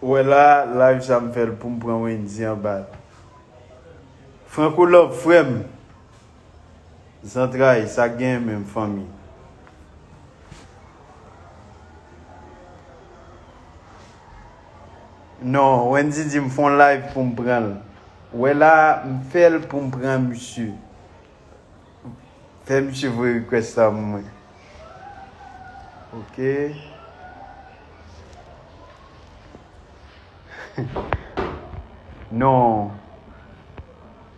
Ou wè la live sa m fèl poum pran wendy anba Franco love frèm zantray sak gen menm fanmi. Non Wendy di m fon live pou m pran l. Wè la m fè l pou m pran misye. Fè misye voye request la pou mwen. Ok. Non.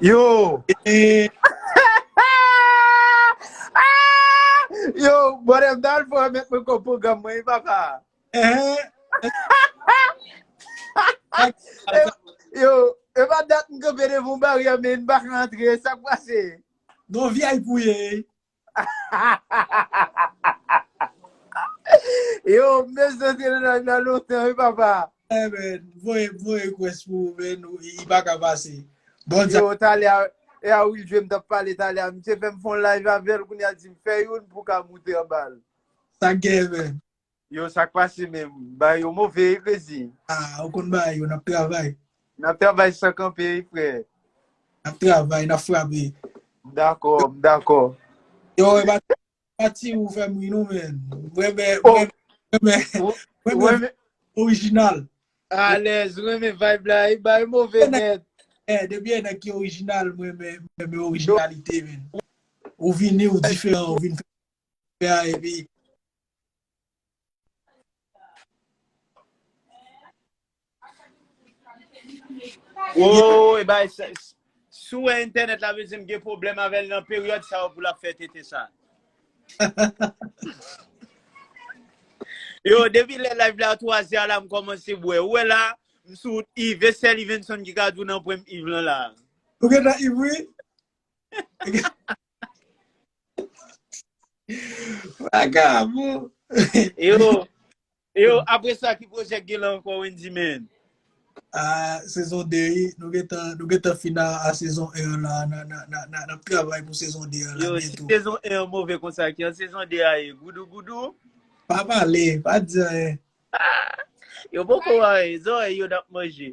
Yo! Yo! Bòdè m dal fò mèt mwen kò pwogram mwen wi papa. Yo! E pa dat m kanpe devan yon baryè men m pa ka antre, sa k pase? Non vip ou ye? Yo, mèsi nan te nan nan lontan, oui, papa. Eh ben, voye, voye kwes pou men nou, i pa ka pase. Bon Yo, talè, a- e a Will Jwe m tap pale talè, a, misye fè m fon live avèl, kounye a di m fè youn pou ka moute anbal. sa gen men. Yo sak pase menm. Bagay yo move wi Crazy. Ah ou konn bagay yo nap travay. Nap travay san kanpe wi frè. Nap travay nap frape. M dakò m dakò. Yo e pa pati ou fèm ri non menn. M renmen m renmen m renmen original. Alèz m renmen vibe la wi bagay move nèt. Eh depi e nèg ki original m renmen m renmen originalite menn. Ou vini ou diferan ou vin fè Pè a epi. Woo e bay se sou e internet la vle di m gen problem avèl nan peryòd sa yo pou lap fè tete sa. Yo depi lè live la 3 zè la m kòmanse bwè. Ou wè la m sou iv e sèl ivenson ki ka di w nan pwen m iv lan la. Ou gentan iv wi. Vagabon. Yo, yo, apre sa ki project gen lan ankò Wendy men? Ah, sezon 2, nou gen tan, nou gen tan fina a sezon 1 la, nan ap travay pou sezon 2 la. Yo, si sezon 1 an move konsa, ki an sezon 2 a ye? Goudou goudou? Pa pale, pa di anyen. Yo poko anyen, zòrèy yo nan ap manje.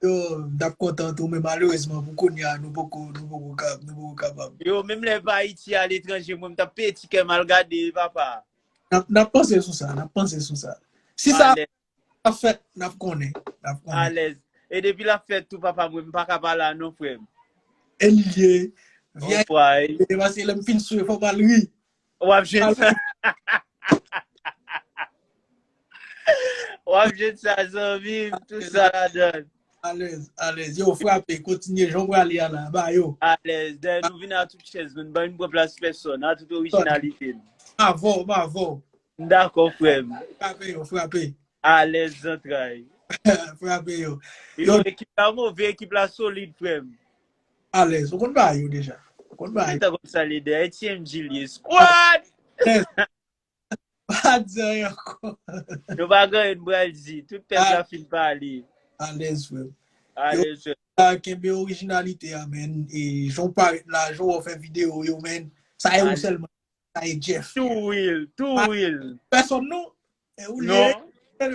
Yo, m tap kontan tou men malerezman pou kounya nou poko nou poko ka nou poko kapab. Yo, menm lè pa Ayiti a letranje mwen m tap peye ti kè m al gade papa. Nap nap panse sou sa, nap panse sou sa. Si sa Alèz, ap fèt, nap konnen, nap konnen. alèz. E depi l ap fèt tou papa mwen m pa ka pa la non frè m. Elye, vye Anfway. Ayiti paske lè m fin swe fò m al ri. Wap jwenn sa. Wap jwenn sa zanmim, tout sa la dan. Alèz, alèz. Yo frape, kontinye, jan ou prale ala, ba yo. Alèz, dè nou vin a tout chèz, nou ban yon pwè plas pèson, a tout orijinalite. M avò, m avò. M dakò frèm. Frape yo, frape. Alèz zantray. Frape yo. Yo ekip la move, ekip la solid frèm. Alèz. Ou konn ba yo deja. Ou konn ba yo. Mwen konn sa li dèyè tiyem Julie squad. Pa di anyen ankò. Nou pa gen anyen nou pral di. Tout pèp la fin pale. Alèz frèm. Alèz frèm. Yo kenbe orijinalite a men. E jan ou parèt la, jan ou fè video yo men. Sa e ou sèlman. Sa e Jeff. Tou real. Tou real. Pèsòn non. E ou liye? Non. Men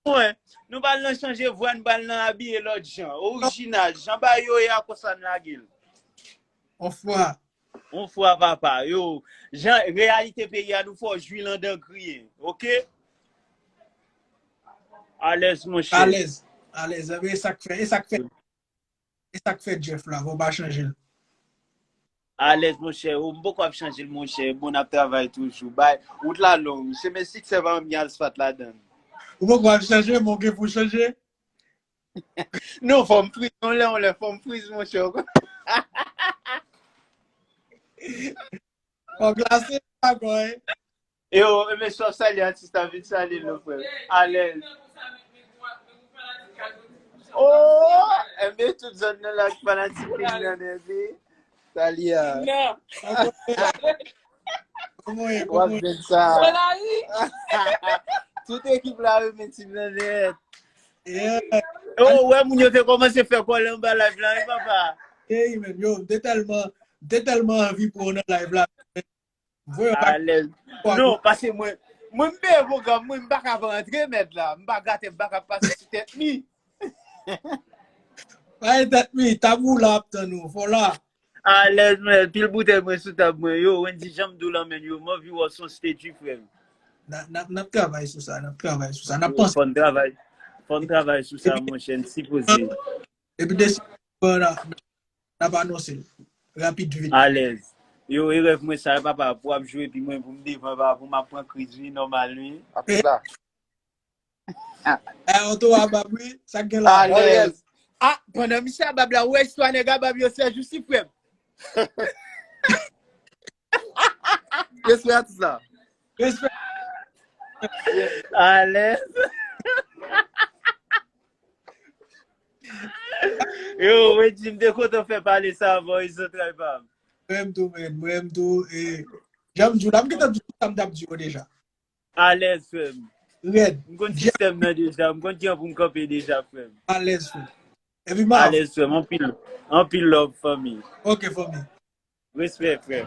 mwen, nou bal nan chanje vwa, nou bal nan abiye lòt jan. Orijinal, jan ba yo ye a konsa n lage l. On fwa. On fwa papa, yo. Jan reyalite peyi a nou fè w jwi l andan kriye. Ok? Alèz monchè. Alèz. Alèz. Anben e sa k fè? E sa k fè? E sak fè Jeff la, vòw pa chanjel. Alèz monchè oo m poko ap chanjel monchè bon nap travay toujou bay wout la long chemen siksè pa janm gen asfat ladann. Ou poko ap chanje men w gen pou chanje. Non fòm friz yon lè yon lè fòm friz monchè ou konn. Fò glase pa gòy. Yo, men sou ap salye atis la vin salye nou frè. Alèz. Oh, enbe tout zòn nan la ki fanatik pin nan enbe. Salye a. Non. Koman e, Wap koman e? jwenn sa. Solari. Tout ekip la yo men tim nan net. Yeah. Oh, wè moun yo te komanse fè kòlè anba live la, oui papa. Hey, men, yo, m te tèlman, m te tèlman anvi pou w nan live la. Voye bak Alèz. kwa Nou, goumen. pase mwen. Mwen m peye program mwen, m pa ka pa antre mèd la. M pa gate m pa ka pase sou tèt mi. Bay tèt mi, tabou la ap tann ou. Fò la. Alèz mwen, pil boutèy mwen sou tab mwen. Yo, Wendy janm dou lan menn yo, m anvi wè w son statue frè m. Na- Nap nap travay sou sa, nap travay sou sa. Nap Yo, panse fòn travay. Fòn travay sou sa epi monchè, n sipoze. epi desi bon na Nap anonse l rapid vit. Alèz. Yo e rèv mwen sa papa pou ap jwe epi mwen pou m devan papa pou map pran kriz wi nòmal wi. Ape la. Ay anto a bab wi sak gen la. Alèz. Ah pandan misye a bab la ou wè istwa nèg a bab yo sèjousi frèm. Respè atis la. Respè. Alèz. Yo, wè jim de kontan fè pale sa avò yon zantray pam. Mwen tou men, mwen tou e. Jam djou la, mwen te djou sa mdap djou deja. Alèz frèm. Red. Mwen konn sistèm nan deja, mwen konn ki an pou mkanpe deja frèm. Alèz frèm. Epi Marv. Alèz frèm, anpil, anpil love fanmi. Ok fanmi. Respè frèm.